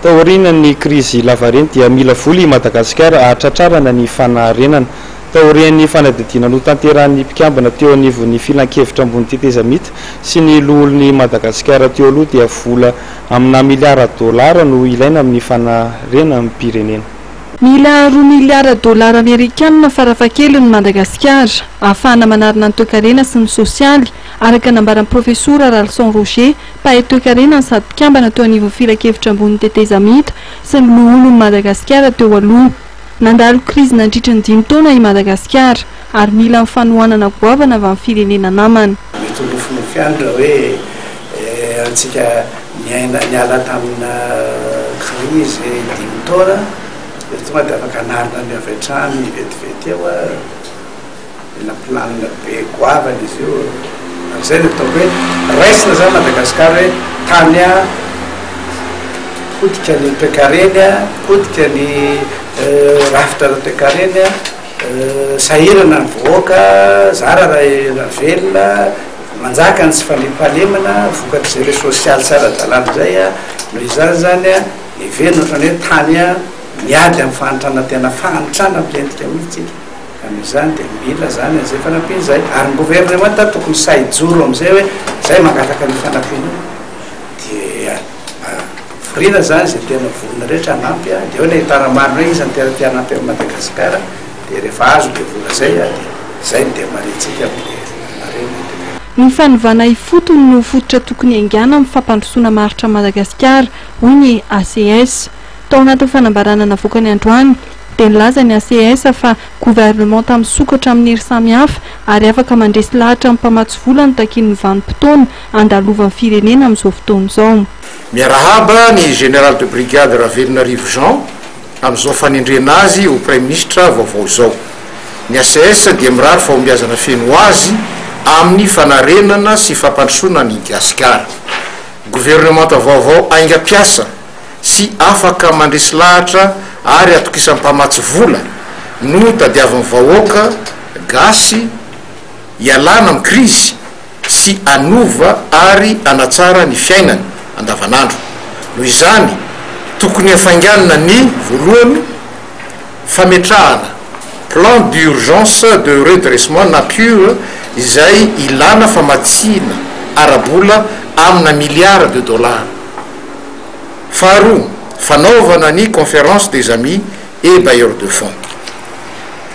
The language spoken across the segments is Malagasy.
Taorian'ny krizy lavareny dia mila vola i Madagasikara hahatratrarana ny fanarenana. Taorian'ny fanadihadiana notanterahin'ny mpikambana teo anivon'ny Filankevitra ambony tetezamita sy ny Loholon'i Madagasikara teo aloha dia vola aminà miliara dolara no ilaina amin'ny fanarenam-pirenena. Mila roa miliara dolara amerikanina farafahakeliny Madagasikara ahafahana manarina ny toekarena sy ny sosialy, araka ny nambaran'ny Profesora Ralison Roger, Mpahay toekarena no sady mpikambana teo anivon'ny filankevitra ambonin'ny tetezamita sy ny loholon'i Madagasikara teo aloha. Nandalo krizy nandritry ny dimy taona i Madagasikara ary mila ny fanohanana goavana avy amin'ny firenena namana. Mety ho nofinofy ihany raha hoe antsika niaina niala tamina krizy dimy taona dia tonga dia afaka hanarina ny avy hatrany vetivety eo ary. Tena planina be goavana izy io e! Ary izay no ataoko hoe raisina izany Madagascar hoe tany a, potika ny toekareny a, potika ny rafitra ara toekareny a, sahirana ny vahoaka, zara raha velona, manjaka ny tsy fandriampahalemana vokatry izay hoe sosialy tsy ara dalàna izay a, noho izany izany a heverina ohatrany hoe tany a miady amin'ny fahantrana tena fahantrana milentika mihintsy isika. Amin'izany dia mila izany amin'izay fanampiana izay. Ary ny governemanta tokony sahy hijoro amin'izay hoe izay mangataka an'io fanampiana io dia voriana izany izay tena vorona rehetra hanampy dia eo ilay tara-marina hoe iza no tena te hanampy an'i Madagasikara dia rehefa azo ilay vola izay dia izay no demarihantsika amin'ilay marina dia Ny fanovana ifotony no fototra tokony haingana amin'ny fampandrosoana maharitra an'i Madagasikara, hoy ny ACS. Tao anatin'ny fanambarana navoakany androany, dia nilaza ny ACS fa governemanta misokatra amin'ny hery samihafa ary afaka mandresy lahatra amin'ny mpamatsy vola no takian'ny vanim-potoana andalovan'ny firenena amin'izao fotoana izao. Miarahaba ny Général de Brigade Ravelonarivo Jean amin'izao fanendrena azy ho Praiminisitra vaovao izao. Ny ACS dia mirary fahombiazana feno ho azy amin'ny fanarenana sy fampandrosoana an'i Gasikara. Governemanta vaovao aingam-piasa. sy afaka mandresy lahatra ary atokisam mpamatsy vola no tadiaviny vahoaka gasy ialana am krizy sy anova ary anatsara ny fiainany andavanandro noho izany tokony hafainganina ny voalohany fametrahana plan d'urgence de redressement na piur izay ilana famatsiana ara bola amina milliard de dollars Faharoa, fanaovana ny Conférence des Amis et Bailleurs de Fonds.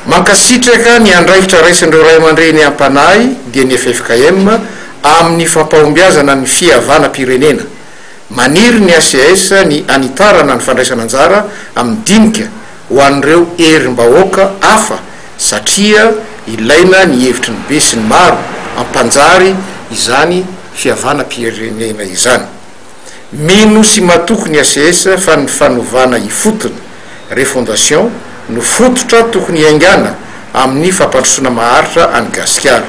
Mankasitraka ny andraikitra raisin'ireo Ray aman-dReny Ampanahy dia ny ffkm amin'ny fampahombiazana ny fihavanam-pirenena. Maniry ny ACS ny hanitarana ny fandraisana anjara amin'ny dinika ho an'ireo herim-bahoaka hafa satria ilaina ny hevitry ny besinimaro hampanjary izany fihavanam-pirenena izany. Mino sy matoky ny ACS fa ny fanovana ifotony, refondation, no fototra tokony hiaingàna amin'ny fampandrosoana maharitra an'i Gasikara.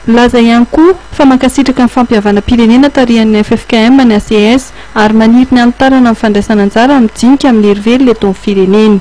Nilaza ihany koa fa mankasitraka ny fampihavanam-pirenena tarihan'ny ffkm ny ACS ary maniry ny hanitarana ny fandraisana anjara mijinika amin'ny herivelona eto amin'ny firenena.